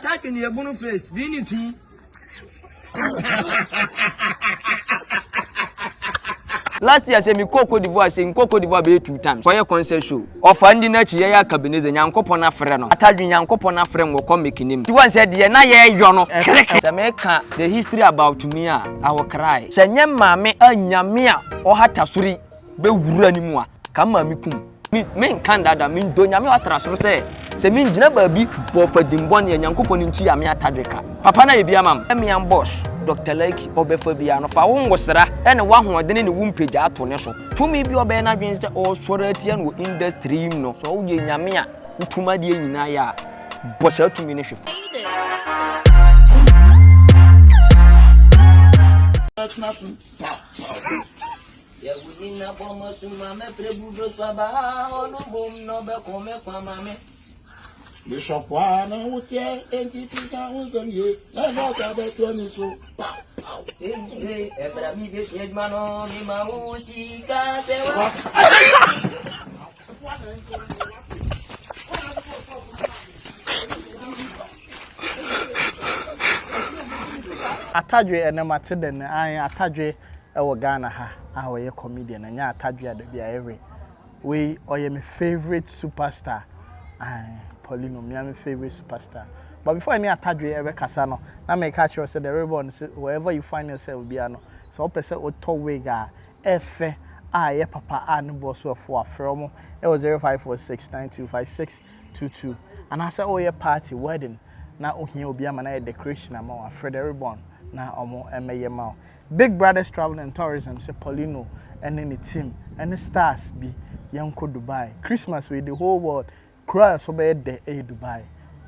Type ni ebunu face bi ni ti. last year sɛ mekɔɔ cote divoire sɛ nkɔ cote divoire bɛyɛ two times kɔyɛ concert show ɔfa ndi no akyi yɛyɛ akabeneze nyankopɔn afrɛ no atadwe nyankopɔn afrɛ m wɔkɔ mekinim nti wɔn sɛ deɛ na yɛyɔ no krek sɛ meka the history about me a i will cry sɛ nyɛ maame a nyame a ɔhata soro yi bɛwura ne mu a, ka mmaa me kum. Me, me nka ndada, me ndo nyame watra soro sɛ, sɛ me ngyina baabi bɔ fa dimbɔne a, Nyankopɔn ne nkyia me atadwe ka. Papa na yɛ bi ama m. Mean boss, Doctor Laiki, ɔbɛfa biara no, fa wo ngosra ne w'ahoɔdene ne wo mpagyaa to ne so. Tumi bi a ɔbɛyɛ n'adwene sɛ ɔresɔre atia no wɔ industry yi mu no, sɛ ɔyɛ nyame a wotum adeɛ nyinaa yɛ a, bɔ saa tumi no hwe fa. Sɛ wonni na bɔ m'asu ma me pere budo so aba ɔno bom na ɔbɛko me kwa ma me. Bishop wa na wo tiɛ enti ti ka ho nsɛm yie na ɛbɛ ɔsɛ abɛtoa ni so. Ee ɛbra mi bɛ sua adwuma no mi ma wo sika sɛ wa. Wa na nkyɛn wa. Atadwe ɛnɛ mate dɛn ae atadwe ɛwɔ Ghana ha a ɔyɛ comedian ɛnyɛ atadwe a dabi ayɛ we wei ɔyɛ me favourite super star ae Paulino mea me favourite super star but before ɛne atadwe ɛbɛ kasa no na meka akyerɛ wo sɛ the ribbon no sɛ wherever you find yourself bia no sɛ wopɛ sɛ wotɔ wig a ɛfɛ a ɛyɛ papa a ne boɔ so ɛfo a frɛ ɔmo ɛwɔ 05469256 tutu anaasɛ ɔreyɛ party, wedding, na ohia obi ama no ayɛ decoration ama wo a, frɛ the Ribbon na wɔmmɛyɛ ma wo. Big Brothers Travel and Tourism se Paulino ne ne team ne stars bi yɛnkɔ Dubai. Christmas wei the whole world, kuro a ɛso bɛyɛ dɛ yɛ Dubai.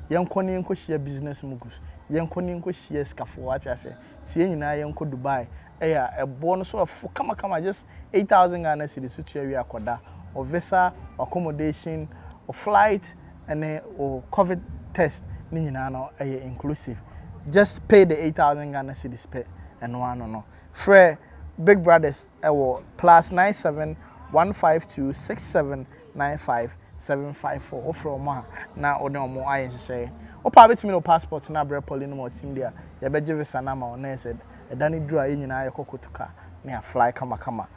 Yɛnkɔ na yɛnkɔhyia business moguls, yɛnkɔ na yɛnkɔhyia asikafoɔ, wate aseɛ? Nti yɛn nyinaa yɛnkɔ Dubai Ɛyɛ a ɛboɔ no so ɛfo kamakama just eight thousand Ghana cedis wo tua wie a kɔ da, wo visa, wo accommodation, wo flight ɛne wo covid test ne nyinaa no ɛyɛ inclusive just pay the eight thousand Ghana cedis pɛ ɛno ara no no. Frɛ Big Brothers ɛwɔ plus nine seven one five two six seven nine five seven five four wofrɛ wɔn a na wode wɔn ayɛ nhyehyɛeɛ. Wopɛ a wobɛtumi de wo passport no abrɛ Polly no ma ɔte mu de a yɛbɛgye visa no ama wo na ɛsɛ ɛda no duru a yɛn nyinaa yɛkɔ kɔtu ka na yɛafly kamakama.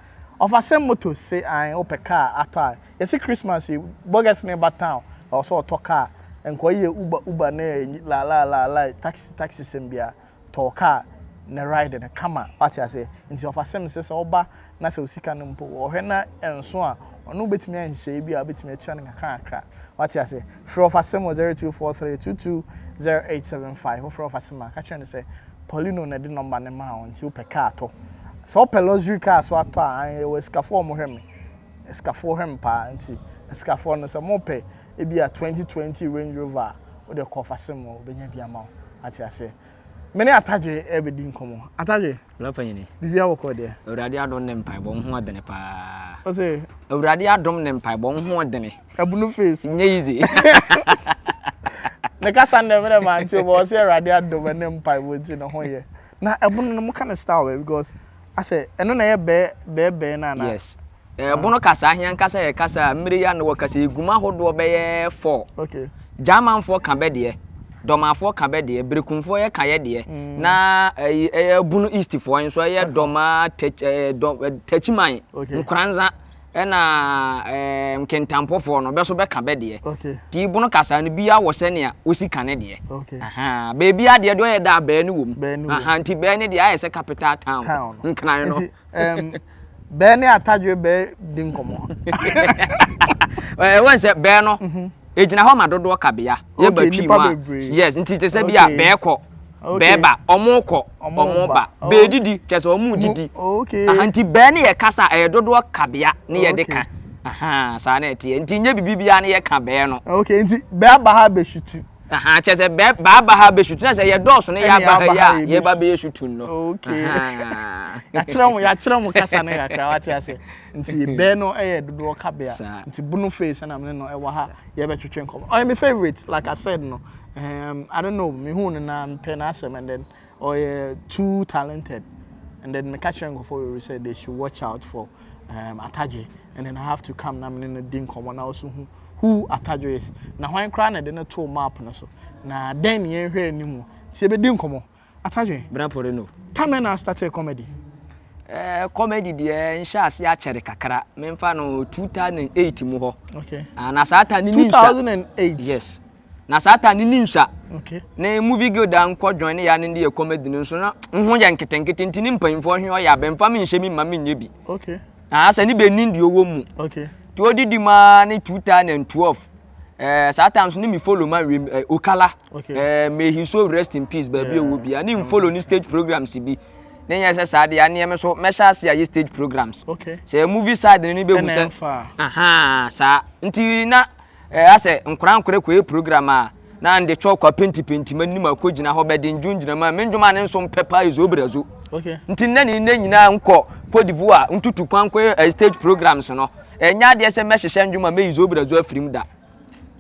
Ɔfasɛm Motors se ae wopɛ kaa atɔ a yɛse Christmas yi Borges no reba town ɛwɔ sɛ ɔtɔ kaa nkɔyɛ Uber Uber ne laalaalaalae taxi taxi sɛm biara tɔ wo kaa ne ride no kama wate aseɛ nti ɔfasɛm se sɛ woba na sɛ osika no mpo wɔ ɔhwɛ na ɛnso a, ɔno wobɛtumi ayɛ nhyehyɛeɛ bi a wobɛtumi atua no nkakrakakra. Wate ase? Frɛ ɔfasɛm wɔ 0243220875. Wofrɛ ɔfasɛm a, ka kyerɛ no sɛ Paulino na ɛde nɔmba no maa wo nti wopɛ kaa tɔ. Sɛ wopɛ luxury car nso atɔ a, aane, yɛwɔ asikafoɔ a wɔhwɛ me. Asikafoɔ hwɛ me paa nti asikafoɔ no sɛ mopɛ ebia 2020 Range Rover a, wodeɛ kɔ ɔfasɛm hɔ, wɔbɛnya bi ama wo. Wate aseɛ? Me ne Atadwe rebɛdi nkɔmmɔ. Atadwe. Bra panyini. Biribiara wɔ kɔ deɛ. Awurade adom ne mpaebɔ wo ho adene paa. Ɔse. Awurade adom ne mpaebɔ wo ho adene. Ɛbunu face. Nye yizi. Ne kasa ndɛ me dɛ mante bɔ ɔse Awurade adom ne mpaebɔ nti ne ho yɛ. Na ɛbunu no mo ka ne style bɛ because asɛ ɛno na ɛyɛ bɛɛ bɛɛ bɛɛ no anaa. Yes. Ɛɛbono kasa he ankasa yɛ kasa a mmere yi a na wɔkasa yi gum ahodoɔ bɛyɛ four. Gyamanfoɔ ka bɛ deɛ, Dɔmafoɔ ka bɛ deɛ, Berekumfoɔ yɛka yɛ deɛ, na ɛyi ɛyɛ Bono Eastfoɔ nso ɛyɛ Dɔma, Tɛk ɛɛ Dɔ Tɛkyiman, Nkoranza ɛna ɛɛ Nkentampofoɔ no bɛ nso bɛka bɛ deɛ. Nti Bono kasa no biaa wɔ sɛnea osi ka ne deɛ. Ahaa. Baabiaa deɛ deɛ ɔyɛ dɛ a bɛɛ no wom. Ahaa nti bɛɛ no deɛ ayɛ sɛ capital town nkran no. Bɛɛ ne atadwe bɛɛ di nkɔmɔ. Ɛwɔ nsɛ bɛɛ no. Egyina hɔ ma dodoɔ kabea. Yɛ ba twi mu a. Yes nti te sɛ bi a bɛɛ kɔ. Bɛɛ ba ɔmo kɔ ɔmo ba. Bɛɛ didi kyɛ sɛ ɔmo didi. Nti bɛɛ ne yɛ kasa ɛyɛ dodoɔ kabea ne yɛ de ka. Saa na ɛteɛ nti nyɛ bibi biara ne yɛ ka bɛɛ no. Ok nti bɛɛ aba ha abɛsutu. Ahaa kyerɛ sɛ bɛ baaba ha bɛsu tena sɛ yɛdɔɔso ne yɛaba ha yi a yɛba bɛyɛ su tun no. Okay. Yɛakyerɛ mo yɛakyerɛ mo kasa no kakra wate ase. Nti bɛ no yɛ dodoɔ kabea. Nti Bunu Face na me ne no wɔ ha yɛbɛtwetwe nkɔmmɔ. Ɔyɛ me favourite like I said no. Um, I don't know, mehuu no na mepɛ n'asɛm and then Ɔyɛ too talented and then meka kyerɛ nkurɔfoɔ bebree sɛ they should watch out for um, Atadwe and then I have to come na me ne no di nkɔmmɔ na ɔso hu who Atadwe is na hwan koraa na ɛde no too map no so na dɛn ne yɛnhwɛ anim nti yɛbɛdi nkɔmmɔ Atadwe. Bra pore no. Time bɛn na astartee comedy? Eh, comedy deɛ nhyɛ aseɛ akyɛre kakra memfa no 2008 mu hɔ Okay. ah, na saa time no mensa 2008? Yes. na saa ta ne ne nsua ne movie guild a nkɔ join ne ya ne de yɛ comedy no nso na ho yɛ nketenkete nti ne mpanyinfoɔ hwe ɔyɛ abɛnfa me nhyɛ mi ma me nyɛ bi okay na sɛ ne bɛ nin deɛ ɔwɔ mu okay tí o didi maa ne two thousand and twelve ɛɛ eh, saa time so ne mi follow ma wiem ɛɛ eh, okala okay ɛɛ eh, may his soul rest in peace baabi a ɔwɔ bi a ne n follow ne stage programs bi ne nyɛ sɛ saa deɛ aneɛ me so mɛhyɛ ase ayɛ stage programs okay sɛ movie side ne ne bɛ hu sɛ ɛnɛ nfa aha saa nti na. Ɛɛ asɛ nkora nkora kɔɛ program a na nde twɔ kwa penti penti ma nima kɔ gyina hɔ bɛ de ndwo ngyina ma me ndwom a ne nso mpɛ paa ezo brazo nti nnɛ ne nnɛ nyinaa nkɔ Cote d'Ivoire ntutu kwan kɔ ɛɛ stage programs no ɛnyɛ adeɛ sɛ mɛ hyehyɛ ndwom a mɛ yi zo brazo afirim da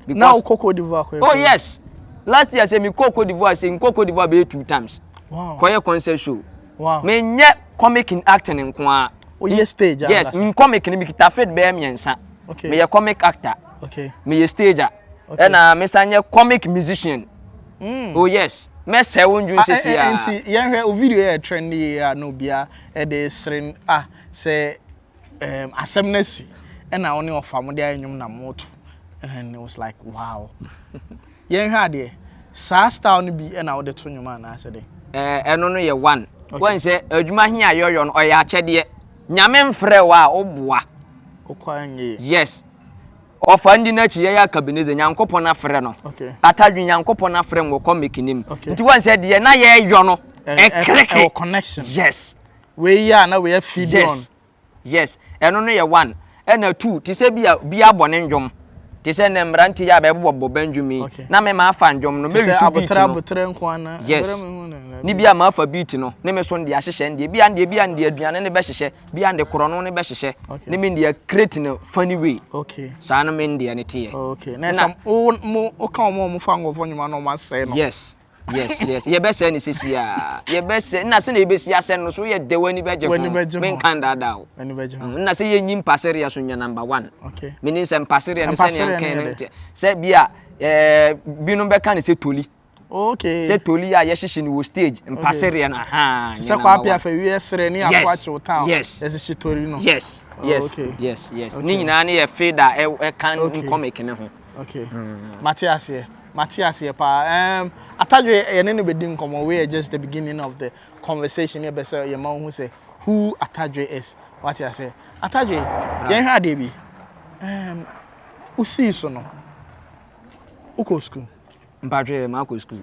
because na wokɔ Cote d'Ivoire kɔɛ oh yes last year sɛ me kɔ Cote d'Ivoire sɛ nkɔ Cote d'Ivoire bɛyɛ two times wow. kɔyɛ concert show Wow. Me nyɛ comic in acting nko a. O yɛ stage a. Yes, me comic ni me kita fit bɛyɛ mmiɛnsa. Okay. Me yɛ comic actor. Okay. Me yɛ stage a. Okay. Ɛna me san yɛ comic musician. Mm. Oh yes. Mɛ sɛ wo ndwun sisi a. Nti yɛn hwɛ o video yɛ trend yɛ a na obia ɛde sere ah sɛ um, asɛm no asi ɛna wo ne ɔfa mo de ayɛ nnwom na moto and it was like wow Yɛnhwɛ adeɛ, saa style no bi na wode to nnwom anaasɛ dɛn? Ɛɛ ɛno no yɛ one. Okay. Wɔn sɛ adwuma he a yɛyɔ no ɔyɛ akyɛdeɛ. Nyame mfrɛ wo a woboa. Wokɔ a nyɛ yie. Yes. Ɔfa ndi n'akyi yɛyɛ akabeneze Nyankopɔn afrɛ no. Okay. Atadwe Nyankopɔn afrɛ no wɔkɔ make nim. Okay. Nti wɔn sɛ deɛ na yɛyɔ no ɛkreke. Ɛwɔ connection. Yes. Wei yɛ a na wei afidi on. Yes. Yes, ɛno no yɛ one. Ɛna two, te sɛ bi a bi abɔ ne nnwom. Te sɛ nnɛ mmerante yi a bɛbobɔbobɔ bɛndwom yi. Okay. Na me mafa nnwom no, mɛwi so beat no. Abotere nko ana. Yes. Ne bi a mafa beat no, ne me so nde ahyehyɛ ndeɛ. Bi a ndeɛ bi a nde aduane ne bɛhyehyɛ, bi a nde korɔno ne bɛhyehyɛ. Okay. Ne me nde create no funny way. Okay. Saa no me ndeɛ ne teɛ. Okay. Na ɛsɛ wo mo woka wɔn a wɔfa nkurɔfoɔ nnwom ano wɔn asɛe no. Yes. Yes yes yɛbɛsɛe no sisi a yɛbɛsɛe nna sɛ na yɛbɛsi asɛe no so woyɛ dɛ w'ani bɛgye ho menka ndaadaa o mm, nna sɛ yɛnyi mpasereɛ so nyɛ number one menim sɛ mpasereɛ no sɛneɛ nkɛn no nteɛ sɛ bi a eh, binom bɛka ne sɛ toli okay sɛ toli a yɛhyehye no wɔ stage mpasereɛ no aha sɛ kɔ apia fa wiɛ serɛ ne ato akyew town yes ɛsehye toli no yes yes yes yes ne nyinaa ne yɛ fade a ɛka nkɔmɛk ne ho Okay. Mm. Mate aseɛ. Mate aseɛ paa. Um, Atadwe yɛne no bɛdi nkɔmmɔ. We are just the beginning of the conversation. Yɛbɛ sɛ yɛma wohu sɛ who Atadwe is. Wate aseɛ. Atadwe, yɛnhwɛ adeɛ bi. Um, wosii so no, wokɔ sukuu? Mpatwe, maakɔ sukuu.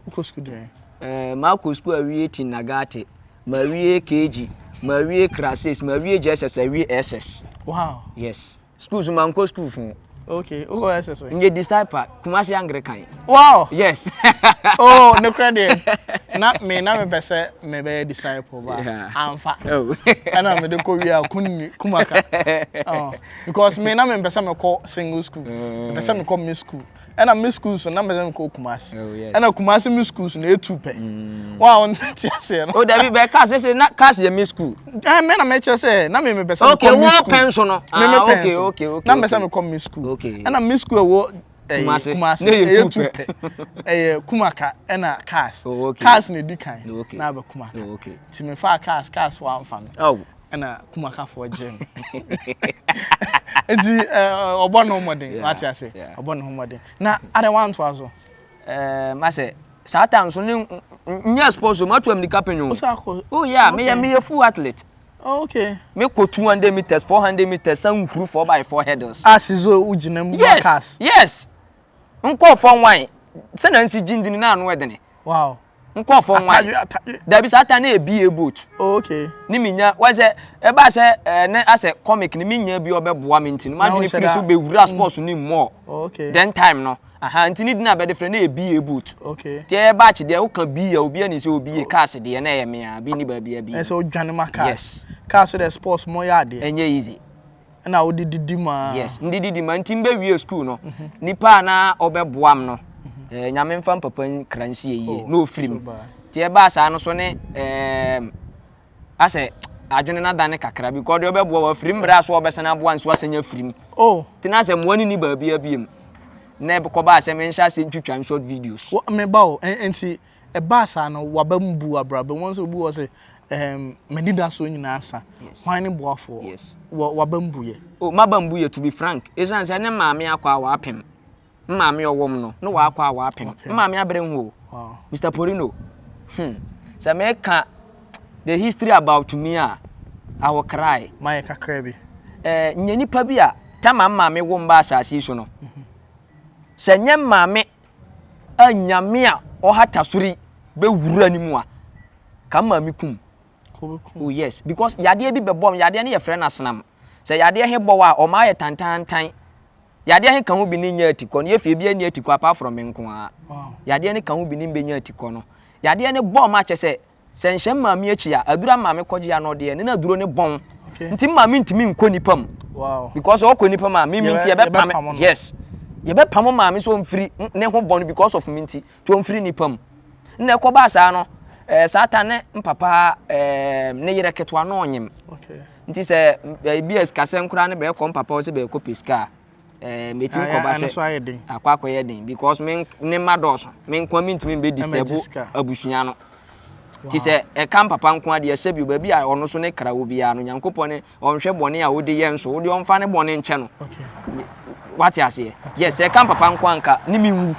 Wokɔ sukuu dɛn? Eh, maakɔ sukuu awie Tinagate, mawie KG, mawie Krasis, mawie JSS, awie SS. Wow. Yes. School so mankɔ school fun. Okay, who else is we? Nye disciple, Kumasi Anglican. Wow. Yes. oh, no credit. Na me na me pese me be disciple ba. Yeah. Amfa. Oh. Ana me de ko wi akunni kumaka. Oh. Because me na me pese me ko single school. Mm. Me pese me ko me school. Ɛna me schools no na mese mekɔ Kumasi. Oh, yes. Ɛna Kumasi me schools no etu pɛ. Mm. Wa on te aseɛ no. O oh, dabi bɛ cars sese na cars yɛ me school. Ɛn mɛ na mɛ kyerɛ sɛ na mɛ mɛ bɛ sɛ mekɔ me school. Okay wɔ pɛn so no. Mɛ mɛ ah, pɛn so. Okay okay. Na mɛ sɛ mekɔ me school. Okay. Ɛna me school ɛwɔ eh, Kumasi. Kumasi. Ɛyɛ tu pɛ. Ɛyɛ eh, Kumaka ɛna eh, cars. Oh, okay. Cars na edi kan. Okay. Na abɛ Kumaka. Oh, okay. Ti mɛ fa cars cars wa nfa mi. Oh. ɛna kumakafoɔ gye no nti ɔbɔ ne ho mmɔden wate ase ɔbɔ ne ho mmɔden na adɛ wantoa so masɛ saa time so ne nyɛ sports o matu amnika pɛn o oh yeah meyɛ meyɛ full athlete oh, okay mekɔ 200 meters 400 meters san huru 4 by 4 hurdles ah sizo wogyina mu yes yes nkɔɔfɔ nwan sɛ na nsi gyindi no n'ano ɛdene wow nkɔɔfɔ nwan dabi sɛ ata na ebi yɛ boat oh, okay ne mi nya wɔn sɛ ɛba sɛ ɛɛ ne asɛ comic ne mi nya bi ɔbɛboa mi nti no ma dwene firi so bɛwura mm. sports ne mu ɔ oh, okay then time no aha nti ne dina bɛde frɛ na ebi yɛ boat okay ti ɛyɛ baakye deɛ woka bi yɛ obi ani sɛ obi yɛ oh. cars deɛ na ɛyɛ mea bi ne baabi ɛbi ɛsɛ odwane ma car yes car so deɛ sports mo yɛ adeɛ ɛnyɛ easy. Ɛna wode didi mu aa. Yes, mede didi mu aa nti mebɛwie sukuu no, nipa a na ɔbɛboa me no, eh, Nyame mfa me papa nkra nsie yie, oh, na ɔfiri mu. Nti ɛbaa saa no so ne, eh, asɛ adwene no adane kakra bi, kɔɔ deɛ ɔbɛboa wɔ afiri mmerɛ a so ɔbɛsane aboa nso asɛnya afiri mu. Oh. Nti na sɛ mmoa no ni baabi abiem. Na ɛkɔbaa sɛ menhyɛ ase ntwitwa short videos. Meba o, nti Ɛbaa saa no, w'aba mu buu abrabɔ mu. Wɔn sɛ obi wɔ sɛ, ɛɛm, m'anidasoɔ nyinaa sa. Yes. Hwan ne boafoɔ? Yes. Wɔ w'aba mu buyɛ. O, oh, m'aba mu buyɛ to be frank. Esiane sɛ ne maame akɔ a w'apem. Maame ɔwom no, ne w'akɔ a w'apem. Maame abere ho. Wow. Mr. Porino, hmm, sɛ meka the history about me a, I will cry. Ma yɛ kakra bi. Eh, nyɛ nipa bi a, tama maame wo mba asase so no. Mm -hmm. Sɛ nyɛ maame a nyame a ɔhata sori bɛwura ne mu a ka maa me kum oh yes because yadeɛ bi bɛbɔ m yadeɛ no yɛfrɛ no asenam sɛ yadeɛ he bɔ a ɔma ayɛ tantantan yadeɛ he ka ho bi ne nyɛ atikɔ no yɛfie bia ni atikɔ apart from me nko a yadeɛ no ka ho bi ne mbɛnya atikɔ no yadeɛ no bɔ m akyɛ sɛ Sɛ nhyɛ me maame akyi a, aduro a maame kɔgye ano deɛ ne na aduro ne bɔn. Okay. Nti maame ntumi nkɔ nipa mu. Wow. Because ɔkɔ nipa mu a mimi nti yɛbɛpam no. Yes. Yɛbɛpam maame so mfiri ne ho bɔn because of me nti. Nti ɔmfiri nipa mu. Nna ɛkɔbaa saa no, ɛɛ eh, saa ta ne mpapa ɛɛ eh, ne yere ketewa na ɔnyem. Okay. Nti sɛ ebi eh, a sikasɛm koraa ne bɛɛkɔ mpapa hɔ sɛ bɛɛkɔ pɛ sika a, ɛɛ metumi Ayɛ- kɔba ano sɛ so ayɛ den. akɔ akɔyɛ den because me nk- ne mma dɔɔso me nkoa mentumi mbɛ disturb Ɛmɛgye sika. abusua no nti sɛ ɛka mpapa nko adeɛ sɛ bio baabi a ɔno so ne kra wɔ biara no nyankopɔn ne ɔnhwɛ bɔne a wode yɛ nso wode ɔmfa ne bɔne nkyɛ no Okay. wate aseɛ yɛ sɛ ɛka mpapa nko anka ne menwu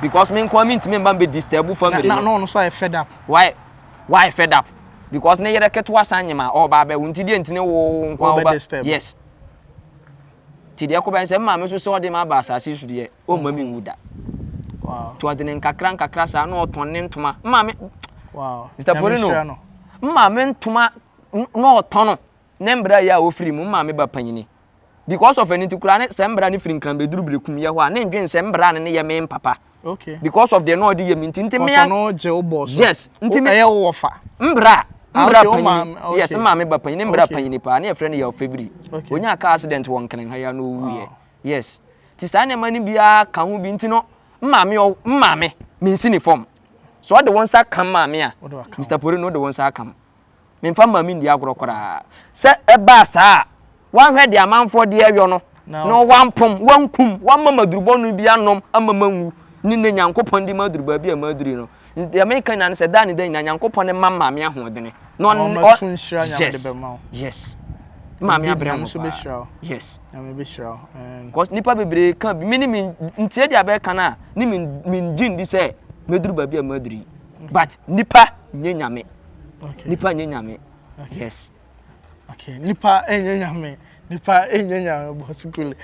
because me nkoa mentumi mba mbɛ disturb Na, family na, no na ɔno nso ayɛ fed up. why why fed up because ne yere ketewa san nyem a ɔba abɛwo nti deɛ nti ne wo nkoa Ɔbɛ woba disturb. yes Nti deɛ ɛkɔbɛn sɛ maame nso sɛ ɔde ma aba asase so deɛ ɔmma mi nwu da. Nti ɔde ne nkakra nkakra saa na ɔtɔn ne ntoma. Maame Mr. Porino maame ntoma na ɔtɔn no ne mbra yɛ a ɔfiri mu maame ba panyini. Because of ɛno nti koraa ne sɛ mbra ne firi nkran bɛduru berekum yɛ hɔ a ne ndwen sɛ mbra no ne yɛ me mpapa. okay because of deɛ na ɔde yɛ mi nti nti mi ya no gye o bɔ so yes nti mi ɛyɛ wo wɔ fa mbra ah, mbra panyin yes maame ba panyin mbra panyin paa ne yɛfrɛ no yɛ ɔfɛbiri onya car accident wɔ nkran ha ya na owu yɛ yes ti saa nneɛma no biara ka ho bi nti no maame ɔ maame mi nsi ne fam so ɔde wɔn nsa kam maame a mr pori no ɔde wɔn nsa akam Memfa mmaa me nni agorɔ koraa. Sɛ ɛbaa saa a, wanhwɛ deɛ amanfoɔ de reyɔ no, na wampom, wankum, wamma m'adurubɔ no bi anom amma manwu, ne nnɛ Nyankopɔn de maduru baabi a maduru no. Deɛ meka nyinaa ne sɛ, da ne da nyinaa, Nyankopɔn ne mma maame ahoɔdene. Na ɔn, ɔn, yes, yes. Maame abrɛ mo paa. Yes. Because nipa bebree ka bi, me ne me ntie deɛ abɛka no a, ne me ngye ndi sɛ mɛduru baabi a maduru yi. But nipa nyɛ nyame. Okay. Nipa nye nyame. Okay. Yes. Okay. Nipa enye nyame. Nipa enye nyame bosikule.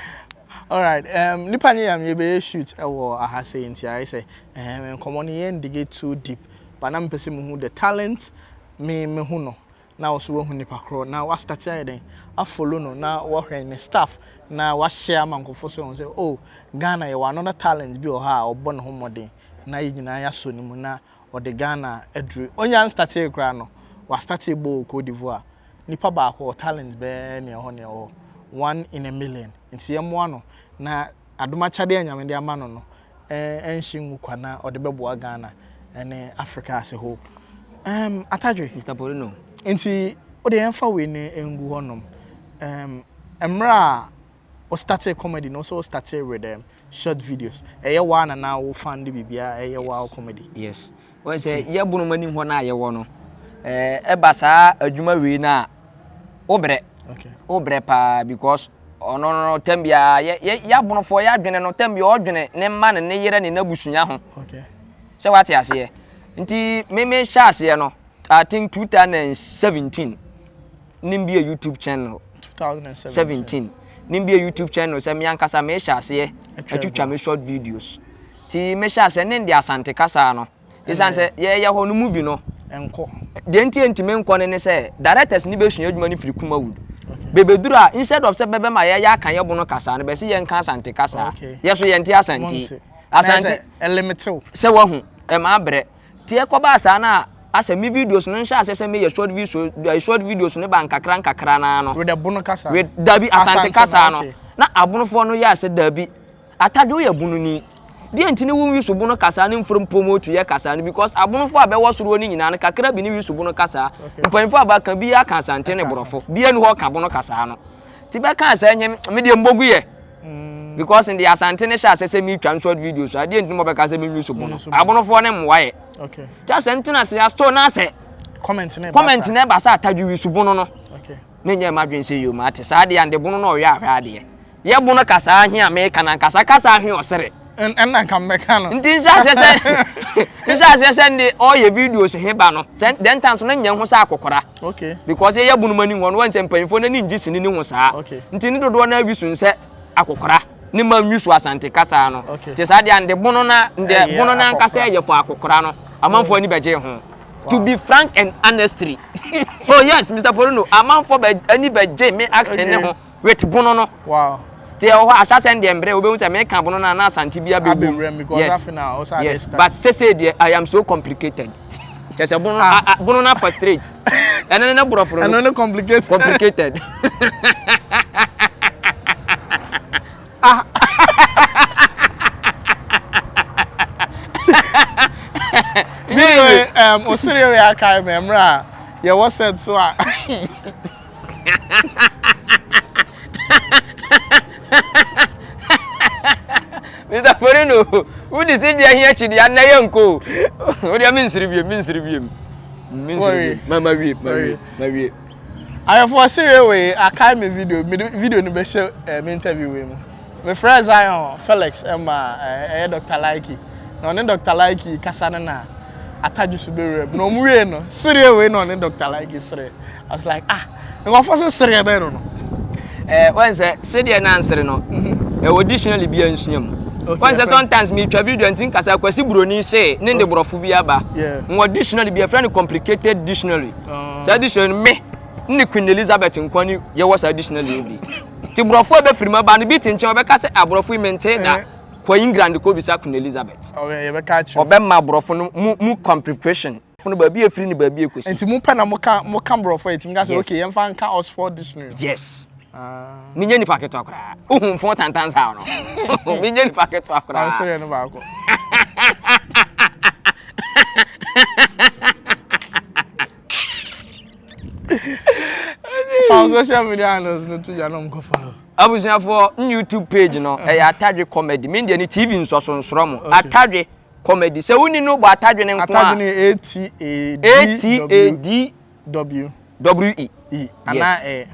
Alright. Um, nipa nye nyame yɛbɛyɛ shoot ɛwɔ eh, aha sɛ nti ayɛ sɛ um, nkɔmmɔ no yɛn dig too deep. But na mpɛ sɛ muhu the talent me mehu no. Na wo so wahu nipa korɔ na wastate ayɛ dɛn afolo no na wɔhwɛ ne staff na wahyɛ ama nkɔfo so wɔn sɛ oh Ghana yɛwɔ another talent bi wɔ hɔ a ɔbɔ ne ho mmɔden na yɛ nyinaa yɛasɔ ne mu na Ɔde Ghana aduru Onyan startee koraa no, wastartee bɔ wɔ Cote d'Ivoire. Nipa baako, ɔwɔ talent bɛyɛ nea ɛhɔ nea ɛwɔ hɔ, one in a million. Nti yɛmmoa no na adom'akyadeɛ a Nyame de ama no no ɛnhye ngu kwa na ɔde bɛboa Ghana ne Africa as a whole. Ɛɛm Atadwe. Mister Porino. Nti wode yɛmfa wei no ngu hɔ nom. Ɛɛm mmerɛ a Wo startee comedy no wo sɛ wo startee with um, short videos. Ɛyɛ waa na na wo fan de biribiara ɛyɛ waa wo comedy. Yes. Wɔn sɛ yɛ bonom anim hɔ no a yɛwɔ no ɛɛ ɛba saa adwuma wei no a wo brɛ. Okay. Wo brɛ paa because ɔno no tɛm biara yɛ yɛ yɛ abonofoɔ yɛ adwene no tɛm biara ɔdwene ne mma ne ne yere ne n'abusua ho. Okay. Sɛ wate aseɛ nti me me hyɛ aseɛ no I think 2017. Nimbie YouTube channel. 2017. Nimbie YouTube channel sɛ me ankasa mehyɛ aseɛ atwitwa me short videos. Ti mehyɛ aseɛ ne de asante kasa no. Ɛsiane sɛ yɛyɛ hɔ no movie no. Nkɔ. Deɛ nti ntumi nkɔ no ne sɛ directors ne bɛsua adwuma no firi Kumawood. Bɛbɛduru a instead of sɛ bɛbɛma yɛyɛ aka yɛ bono kasa no bɛsi yɛnka asante kasa. Yɛ so yɛnte asante. Asante. Ɛlimitew. Sɛ wahu ɛma abrɛ. Te ɛkɔbaa saa na asɛ me videos no nhyɛ aseɛ sɛ me yɛ short viso eh, short videos no ba nkakra nkakra naa no. Wede bono kasa. Wed dabi asante kasa no. Na abonofoɔ no yɛ asɛ dabi. Atade woyɛ bono ni. Deɛ nti ne wo wiso bono kasa ne mfrom promote yɛ kasa no because abonofoɔ a bɛwɔ soroɔ no nyinaa no kakra bi ne wiso bono kasa. Mpanyinfoɔ a baka bi aka asante ne borɔfo. Bia ni hɔ ka bono kasa no. Ti bɛ kaa saa nyɛ me deɛ mbogu yɛ. Mm. Because in the Asante ne hyɛ asɛ sɛ me twa short videos a deɛ nti mo bɛka sɛ me nwi so bono. Abonofoɔ ne mmoa yɛ. Okay. Ti asɛ ntena se asto na asɛ. Comment ne ba. Comment ne ba sɛ atadwi wi so bono no. Okay. Me nyɛ ma dwen sɛ yom ate saa deɛ ande bono na ɔyɛ ahwɛ adeɛ. Yɛ bono kasa ahwe a me kana kasa kasa ahwe ɔsere. ɛna nka mɛka no. nti nhyɛ aseɛ sɛ nhyɛ aseɛ sɛ nde ɔyɛ videos he ba no sɛ mm. dɛn times no nyɛ ho sɛ akɔkora okay because yɛyɛ bunuma ni hɔ no wɔn sɛ mpanyinfoɔ n'ani ngye sini ne ho saa okay nti ne dodoɔ naa wisu nsɛ akɔkora ne ma nwisu asante kasa no okay te saa deɛ nde bono na nde bono na nkasa yɛ fɔ akɔkora no amanfoɔ ani bɛgye ho to be frank and honestly oh yes mr porino amanfoɔ bɛ ani bɛgye me acting ne ho. With bono no. Wow. Ti ɛwɔ hɔ ahyɛ asɛn deɛ mbrɛ wobɛhu sɛ meka bono no a na asante bi abɛwura mu. Yes. Yes. But sese deɛ I am so complicated. Kyɛ sɛ bono ah. a bono no afa straight. Ɛno ne ne borɔforo no. Ɛno ne complicated. Complicated. ah. Yeye. Um, osiri yɛ aka mɛ mmerɛ a yɛwɔ sɛ so a. Mister Porino, wode sɛdeɛ ahia akyideɛ anna yɛ nkɔ o. Wodeɛ mensere biem, mensere biem. Mensere biem. Ma ma wie, ma wie, ma wie. Ayɛfoɔ sere wei, akae me video, mede video no bɛhyɛ eh, me interview wei mu. Mefrɛɛ Zion Felix ma ɛyɛ Dɔkta Laiki na ɔne Dɔkta Laiki kasa no na atadwe so bɛwura mu na ɔmo wiee no sereɛ wei na ɔne Dɔkta Laiki sereɛ I was like ah nkurɔfoɔ se sereɛ bɛn no no. Eh, wɔn sɛ sedeɛ na nsere no ɛwɔ dictionary bi a nsua mu wɔn sɛ sometimes metwa video nti nkasa kwasi buroni se ne de borɔfo bi aba wɔ dictionary bi ɛfrɛ no complicated dictionary saa dictionary no me ne Queen Elizabeth nkwa ne yɛwɔ saa dictionary bi Nti borɔfo a ɛbɛfiri mu aba no bi te nkyɛn ɔbɛka sɛ aborɔfo yi mentee da eh. kɔ England kɔbisa Queen Elizabeth ɔbɛma aborɔfo no mu mu complication no baabi efiri ne baabi ekosi. Nti mo pɛ na mo ka mo ka borɔfo a etimi ka sɛ okay yɛn fa nka Oxford Dictionary. Yes. Ah. mi nye nipa ketewa koraa ohun fun tantan saa no mi nye nipa ketewa koraa. ɔnsere no baako. Fa social media handles no to dwa na ɔmkɔ follow. Abusuafoɔ n YouTube page no ɛyɛ Atadwe comedy me deɛ ne TV nsɔso nsrɔ mo Atadwe comedy sɛ wonni no bɔ Atadwe no nko a Atadwe no yɛ A-T-A-D-W W-E E anaa E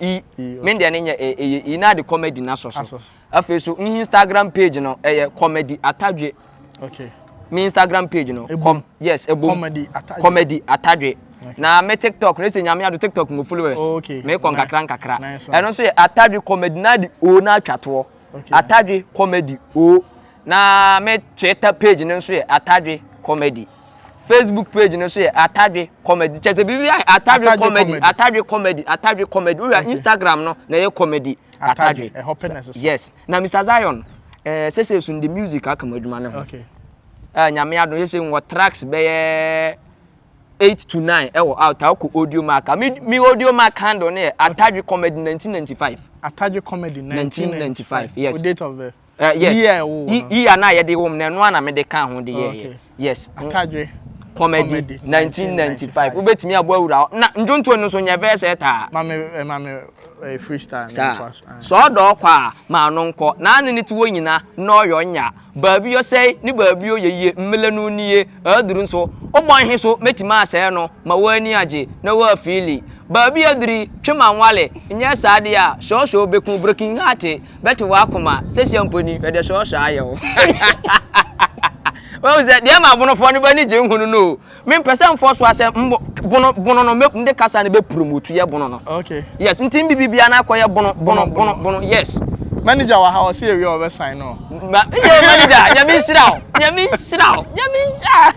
E E me deɛ ne nyɛ E ɛyɛ E na de comedy no asɔ so Afei so n Instagram page no ɛyɛ comedy atadwe. Okay. Me Instagram page no. Ebom. Com yes ebom. Comedy atadwe. Comedy atadwe. Okay. Na me TikTok no ɛsɛ nyame ado TikTok mo followers. Oh, okay. Me kɔ nkakra nkakra. Nice one. Ɛno nso yɛ atadwe comedy na de o na atwa toɔ. Okay. Atadwe comedy o. Na me Twitter page no nso yɛ atadwe comedy. Facebook page no so yɛ Atadwe Comedy. Kyɛ sɛ biribi ayɛ Atadwe Comedy, Atadwe Comedy, Atadwe Comedy. Woyɛ Instagram no na ɛyɛ comedy. Atadwe. Ɛhɔ pɛ na ɛsesa. Yes. Na Mr. Zion, ɛɛ eh, sese so de music aka mu adwuma no ho. Okay. Ɛɛ eh, nyame adom yɛsɛ wɔ tracks bɛyɛ eight to nine ɛwɔ out akɔ audio mark mi mi audio mark handle no yɛ Atadwe Comedy nineteen ninety five. Atadwe Comedy nineteen ninety five. Yes. O date of birth. Uh, yes. Yi a ɛwɔ hɔ. Yi a na yɛde wɔ mu na ɛno a na mede ka ho de yɛ yɛ. Yes. Akadwe. Comedy 1995. Wobɛtumi abɔ awura hɔ. Na ndwontoɔ no nso nyɛ verse ɛtaa. Eh, Mame eh, mame eh, freestyle. Saa. Eh. Sɛ ɔdɔ ɔkɔ a maa no nkɔ. Na ne ne te wɔ nyina na ɔyɔ nya. Baabi ɔsɛe ne baabi ɔyɛ yie. Mmele no nie aduru nso. Wobɔ nhe so mɛtumi asɛe no ma woani agye na woafiili. Baabi aduri twe ma nwale nyɛ saa deɛ a sɔɔsɔɔ bɛku broken heart Bɛto wo akoma sesia mpo ni hwɛ deɛ sɔɔsɔɔ ayɛ wo Wahu sɛ deɛ ma bonofoɔ no b'ani gye nhunu no o Me mpɛ sɛ mfɔ so asɛ mbo bono bono no mɛ mde kasa no bɛ promote yɛ bono no okay yes nti mbibi bia na akɔ yɛ bono bono bono bono yes Manager wɔ ha ɔsɛ yɛwie a ɔbɛ sign no Ba yo manager nyame nhyira wo nyame nhyira wo nyame nhyira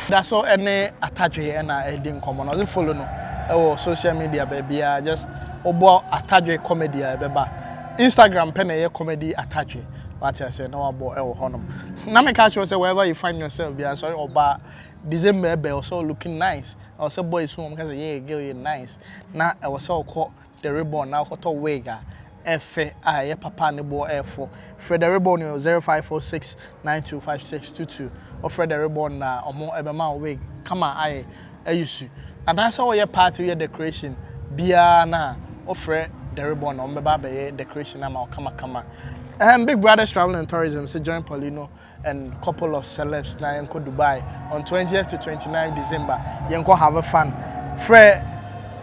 Da so ne Atadwe na ɛredi nkɔmmɔ na ɔdze follow no wɔ social media baabiara just wobɔ Atadwe comedy a ɛbɛba Instagram pɛ na ɛyɛ comedy Atadwe wate aseɛ na wabɔ wɔ hɔnom na meka akyerɛ sɛ wherever you find yourself biara sɛ ɔyɛ ɔbaa December ɛbɛ ɔsɛ looking nice ɔsɛ boys wɔn ka sɛ yeah girl yɛ nice na ɛwɔ sɛ ɔkɔ The Ribbon na wokɔtɔ wig a ɛfɛ a ɛyɛ papa a ne boɔ yɛ fo. Frɛ The Ribbon wɔ 0546925622. Wofrɛ The Ribbon na wɔbɛma wo wig kama ayɛ ayusu. Anaasɛ woyɛ party woyɛ decoration biara no a wofrɛ The Ribbon na wɔbɛba abɛyɛ decoration no ama wo kamakama. Ɛɛm Big Brothers Travel and Tourism se join Paulino and couple of celebs na yɛnkɔ Dubai on 20th to 29 December yɛnkɔ have fun frɛ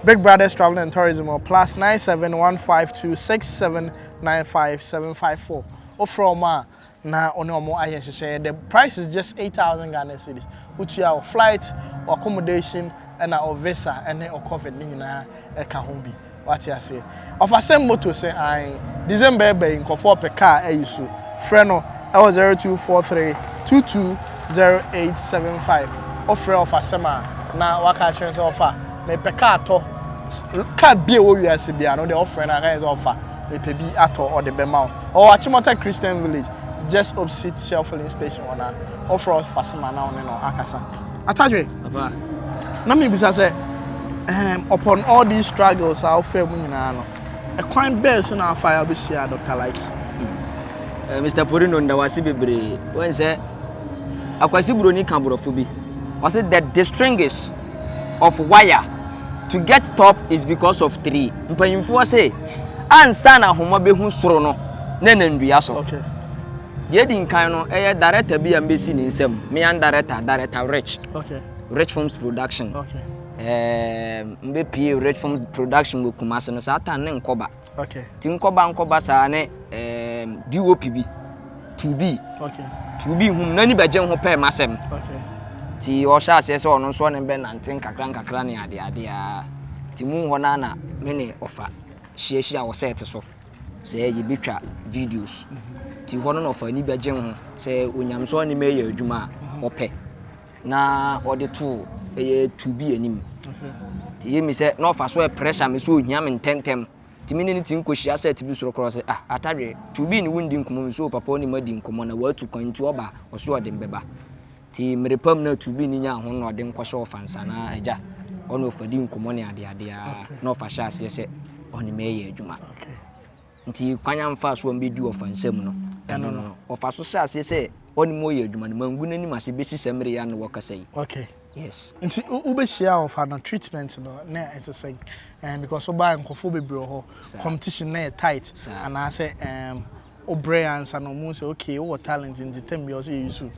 Big Brothers Travel and Tourism or plus 97152679575 wofrɛ wɔn a na wɔne wɔn ayɛ nhyehyɛeɛ the price is just 8000 Ghana cedis wotua wo flight accommodation ɛna o visa ɛne o covid ne nyinaa ɛka ho bi wate aseɛ ɔfa same moto sɛ ae December ɛba yi nkorɔfoɔ ɔpɛ car ayi so frɛ no ɛwɔ 0243 220875 wofrɛ ɔfa same a na waka akyerɛ sɛ ɔfa mepɛ car tɔ car bia ɛwɔ wiase bia no wode ɔfrɛ no aka yɛ sɛ ɔfa mepɛ bi atɔ ɔde bɛma wo ɔwɔ Achimota Christian Village just opposite Shell filling station hɔ na wofrɛ ɔfa same a na wone no akasa. Atadwe. Papa, na mebisa sɛ, ehem, upon all these struggles a wofaa mu nyinaa no, ɛkwan bɛn so na afa a wobɛhyia Dr. Laiki? Eh, Mr. Porino, nda wase bebree. Wɔn sɛ, akwasi buroni ka borɔfo bi. Ɔse, the distrings of wire to get top is because of three. Mpanyimfoɔ se, ansa na ahoma bɛhu soro no, na ɛnam dua so. Okay. Deɛ edi nkan no, ɛyɛ director bi a mbesi ne nsam. Me yan director, director Rich. Okay. Rich Films Production. Okay. Ɛɛm mbe pie Rich Films Production wɔ Kumasi no saa tan ne nkɔba. Okay. Ti nkɔba nkɔba saa ne ɛɛm DOP bi. Tubi. Okay. Tubi hum n'ani bɛgye ho pɛɛ m'asɛm. Okay. Ti ɔhyɛ aseɛ sɛ ɔno nso ne bɛ nante nkakra nkakra ne adeadeɛ a. Ti mu hɔ na na me ne ɔfa hyiahyia wɔ sɛɛte so. Sɛ yɛbɛtwa videos nti hɔ no na ɔfa ani bɛgye ho sɛ onyamesom ne mɛyɛ adwuma a ɔpɛ na ɔde to ɛyɛ tu bi anim nti yɛ mi sɛ na ɔfa so pressure me so ohia me ntɛntɛm nti me ne ne ti nkɔhyia sɛ ti bi soro korɔ sɛ ah atadwe tu bi ne wondi nkɔmmɔ me so papa ɔne ma di nkɔmmɔ na watu kwan nti ɔba ɔso ɔde mbɛba Nti mmere pa mu na Tuubini nyaa ahonhoɔden kɔhyɛ Ɔfansa no ara agya hɔ na ɔfa di nkɔmmɔ ne adeade ara na ɔfa hyɛ aseɛ sɛ ɔne me reyɛ adwuma. Nti kwan a mfaa so a mbɛdi Ɔfansa mu no, ɛno no ɔfa so hyɛ aseɛ sɛ ɔne me reyɛ adwuma no, mangu n'anim ase bɛsi saa mmere yi a ne wɔkasa yi. Okay. Yes. Nti wobɛhyia ɔfa no treatment no na ɛte sɛn? Um, because wobaa nkurɔfoɔ bebree wɔ hɔ, competition na yɛ tight, anaasɛ um, Wo brɛ ansa na ɔmo hu sɛ okay wo wɔ talent nti tam biara ɔsɛ yɛ use wo.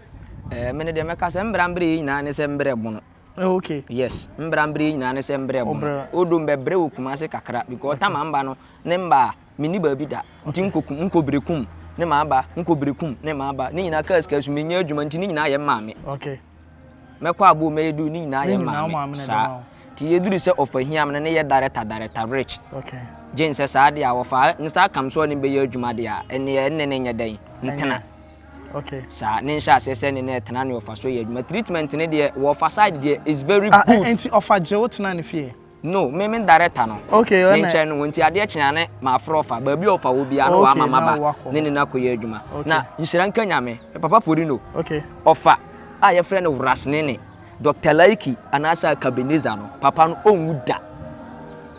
Ɛɛ me no deɛ mɛka sɛ mbra mbrɛ yɛ nyinaa ne sɛ mbrɛ bono. Oh okay. Yes mbra mbrɛ yɛ nyinaa ne sɛ mbrɛ bono. Ɔbrɛ. Although mbɛbrɛ wɔ Kumasi kakra because tam a mba no ne mba a menni baabi da nti nkɔ kum nkɔ Berekum ne maa ba nkɔ Berekum ne maa ba ne nyinaa car sika so mennya adwuma nti ne nyinaa yɛ mmaa me. Okay. Mɛkɔ abom mɛyɛ duru ne nyinaa yɛ maame saa ti yɛ duru sɛ ɔfa hiam no ne yɛ dareta dareta rich gye nsɛ saa deɛ a wɔfa ne saa kam so ɔne bɛyɛ adwuma deɛ a ɛneɛ ɛne ne nyɛ dɛn ntena saa ne nhyɛ aseɛ sɛ ne ne ɛtena ne ɔfa so yɛ adwuma treatment ne deɛ wɔfa side deɛ is very ah, eh, good. nti ɔfa gye wo tena ne fie. No, me me director no. Okay, ɔna. Ne nkyɛn no, nti adeɛ kyen ane maafrɛ ɔfa. Baabi a ɔfa wɔ biara no waama maba ne ne no akɔyɛ adwuma. Na nhyira nka Nyame, me papa Porino, ɔfa a yɛfrɛ no Wrasnene, Doctor Laiki anaasɛ Akabineza no, papa no ɔnwu da.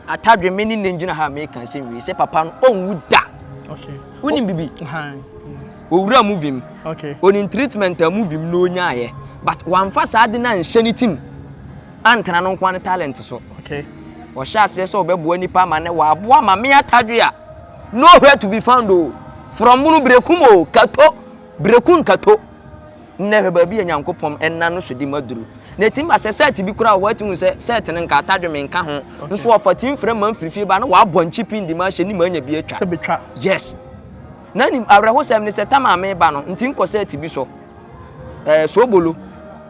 Atadwe, me ne nnɛ gyina ha a meka nsɛm wei sɛ papa no ɔnwu da. Okay. Wonim bibi? Owura movie mu. Okay. Onim treatment a movie mu na ɔnyaeɛ. But wamfa saa ade no anhyɛ ne tim. antra no nkoa ne talent so. Ɔhyɛ aseɛ sɛ ɔbɛboa nipa ama nɛ wɔaboa ma me atadwe a nowhere to be found o from bunu brekum o kato breku nkato nnɛ hwɛ baabi a nyankopɔn ɛna no so di maduru na ɛtim ba sɛ sɛt bi koraa wɔ hɔ ati hu sɛ sɛt no nka atadwe me nka ho nso ɔfa tim frɛ ma mfirifie ba na wɔabɔ nkyipi ndi ma ahyɛ ne ma anya bi atwa yes na nim awerɛhosɛm ne sɛ tama me ba no nti nkɔ sɛt bi so ɛɛ soobolo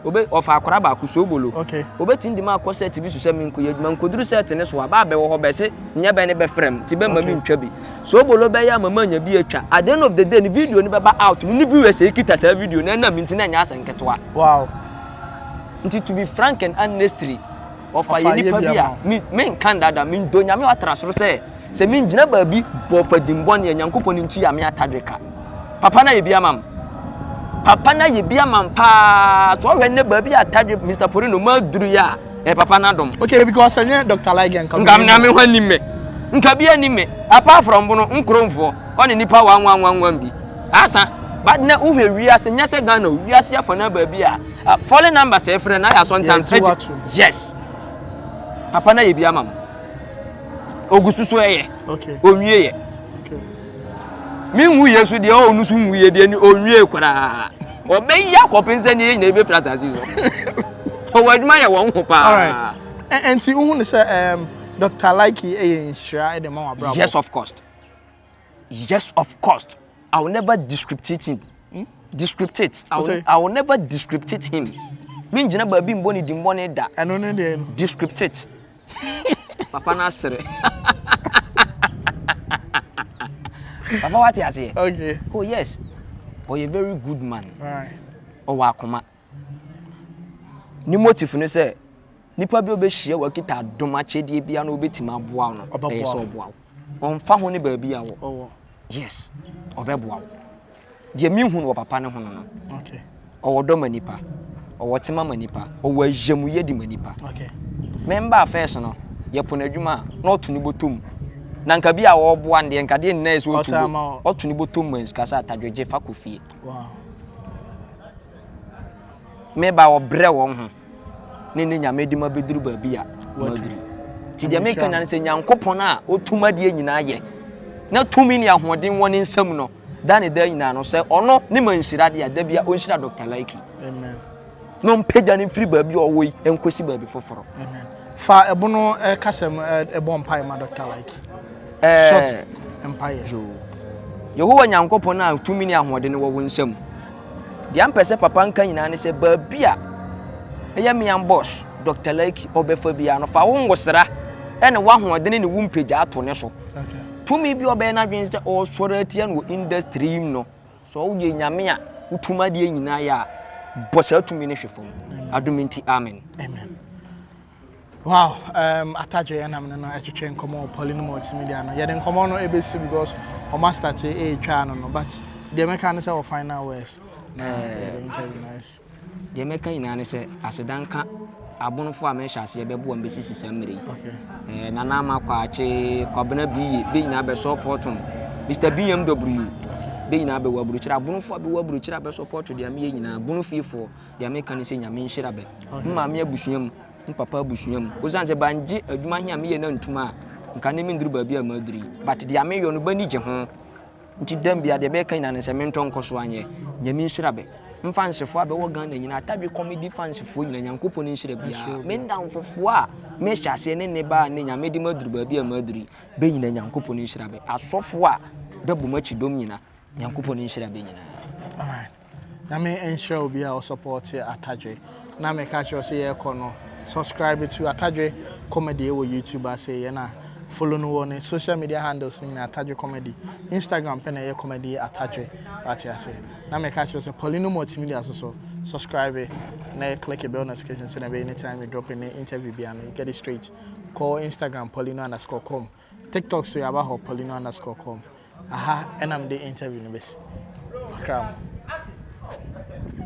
obe ɔfa akwadaa baako soobolo okay. obetumi de mu akɔ sɛɛte bi so sɛ menko yɛ adwuma nkoduru sɛɛte ne so a baa bɛwɔ hɔ bɛse nyɛ bɛ ne bɛfrɛ m ti bɛ ma okay. mentwa bi soobolo bɛyɛ ama ma anya bi atwa at the end of the day ne video no bɛba out no ne viewers ekita saa video no ɛnam nti na ɛnyɛ asɛnketewa wow nti to be frank and honestly Ɔfa yɛ nipa bi a menka ndada mendɔ Nyame a ɔatra soro sɛ sɛ mengyina baabi bɔ fadim bɔne a Nyankopɔn nti yɛ a me atadwe ka. Papa no ayɛ bi ama me. Papa no ayɛ bi ama me paa. So ɔhwɛ nnɛ baabi a atadwe Mister Porino maduru yɛ a ɛyɛ papa no adom. Okay because ɛnyɛ Doctor Like nka Nka me na me ho anim me. Nka bi anim me. Apart from bono nkromfoɔ ɔne nipa wanwanwanwan bi. Asa but nɛ wohwɛ wiase nyɛ sɛ Ghana o wiase afanaa baabi a Ah, falling number sɛ ɛfrɛ na yɛ asɔntan ɛgye yes papa na yɛ bi ama mo ogu so so ɛyɛ onwie yɛ me nwu yɛ so deɛ ɔwɔ no so nwu yɛ deɛ ni onwie koraa ɔbɛyi akɔpem sɛ ne yɛ nyina ɛbɛfiri asase so ɔwɔ adwuma yɛ wɔn ho paa ɛnti wohu ne sɛ dr likey ɛyɛ nhyira ɛde ma wɔ abrabɔ yes of course Yes, of course. I will never descriptate him. Hmm? Descriptate. I will, I will never descriptate him. Me ngyina baabi mbɔ ne di mbɔ ne da. Ɛno ne deɛ no. Descriptate. Papa no asere. Papa wate aseɛ? Okay. Oh yes. Ɔyɛ very good man. Right. Ɔwɔ akoma. Ne motive no sɛ nipa bi a ɔbɛhyia wɔ kita adom akyɛdeɛ biara na ɔbɛtumi aboa wo no ɛyɛ sɛ ɔboa wo ɔmfa ho ne baabi a wɔ yes ɔbɛboa wo deɛ mehu no wɔ papa no ho no no ɔwɔ dɔ ma nipa ɔwɔ tema ma nipa ɔwɔ ahyɛmuyɛ di ma nipa mɛmba afɛs no yɛpo no adwuma a na ɔto ne bɔtɔ na nka bi a ɔboa no deɛ nka deɛ nyinaa yɛ sɛ ɔto ne bɔtɔ mu kasa atadwogye fa kɔ fie wow. me ba wɔbrɛ wɔn ho ne ne nyame de ma bɛduru baabi a wɔaduru nti deɛ meka nya no sɛ nyankopɔn a ɔtum adeɛ nyinaa yɛ na tumi ne ahoɔden wɔ ne nsam no da ne da nyinaa no sɛ ɔno ne ma nhyira deɛ da bia ɔnhyira dr liki na ɔmpagya no mfiri baabi a ɔwɔ yi nkɔsi baabi foforɔ fa ɛbono kasɛm ɛbɔ mpae ma dr liki short mpaeɛ yehowa nyankopɔn a tumi ne ahoɔden wɔ wo nsam Deɛ mpɛ sɛ papa nka nyinaa ne sɛ baabi a ɛyɛ mean boss Dr. Laiki ɔbɛfa biara no fa wo ngosra ɛne w'ahoɔdene ne wo mpagya ato ne so. Tumi bi ɔbɛyɛ n'adwene sɛ ɔresɔre atia no wɔ industry yi mu no, sɛ ɔwoyɛ nyame a wotum adeɛ nyinaa yɛ a, bɔ saa tumi no hwe fam. Adom nti, amen. Amen. Wow, um, atadwe yɛn nam no no ɛtwetwe nkɔmɔ wɔ pɔli no multimedia no yɛde nkɔmɔ no ebesi because wɔn astate ɛretwa no no but deɛ mɛka ne sɛ wɔ final words na yɛde interview na ɛsi. Deɛ mɛka nyinaa ne sɛ asedanka abonfo a mɛhyɛ aseɛ bɛbo wɔn bɛsisi saa mmiri. Okay. Nana ama kwakye kwabena biye bɛ nyinaa bɛ support no Mr BMW bɛ nyinaa bɛwɔ aburokyire abonfo a bɛwɔ aburokyire a bɛ support deɛ meyɛ nyinaa bono fiefoɔ Deɛ meka ne sɛ Nyame nhyira bɛ. Me maame abusua mu, me papa abusua mu. Osiane sɛ bangye adwuma he a meyɛ no antum a, nka ne menduru baabi a maduru yi. But deɛ meyɔ no, b'ani gye ho. Nti dam bia deɛ bɛka nyinaa ne sɛ mentɔ nkɔ so anyɛ. Nyame nhyira bɛ. Mfansefoɔ a bɛwɔ Ghana nyinaa, Tadwe Comedy fansefoɔ nyinaa, Nyankopɔn nhyira biaa. Me ndamfofoɔ a mehyɛ aseɛ ne ne baa ne Nyame de maduru baabi a maduru yi, bɛ nyinaa Nyankopɔn nhyira bɛ. Asɔfoɔ a bɛbɔ m'akyi dɔm nyinaa, Nyankopɔn nhyira bɛ nyinaa. Nyame nhyira obi a ɔsɔpɔɔte Atadwe na meka kyerɛ wo sɛ yɛɛkɔ no subscribe to Atadwe comedy ɛwɔ YouTube ase yɛ na follow no wɔ ne social media handles no nyinaa Atadwe comedy Instagram pɛ na ɛyɛ comedy Atadwe wate ase na meka kyerɛ wo sɛ Paulino Multimedia nso so subscribe na yɛ click bell notification sɛdeɛ ɛbɛyɛ anytime we drop any interview biara no you get it straight kɔ Instagram paulino underscore com Tiktok so yɛaba hɔ paulino underscore com aha ɛna mede interview no bɛsi makra mu.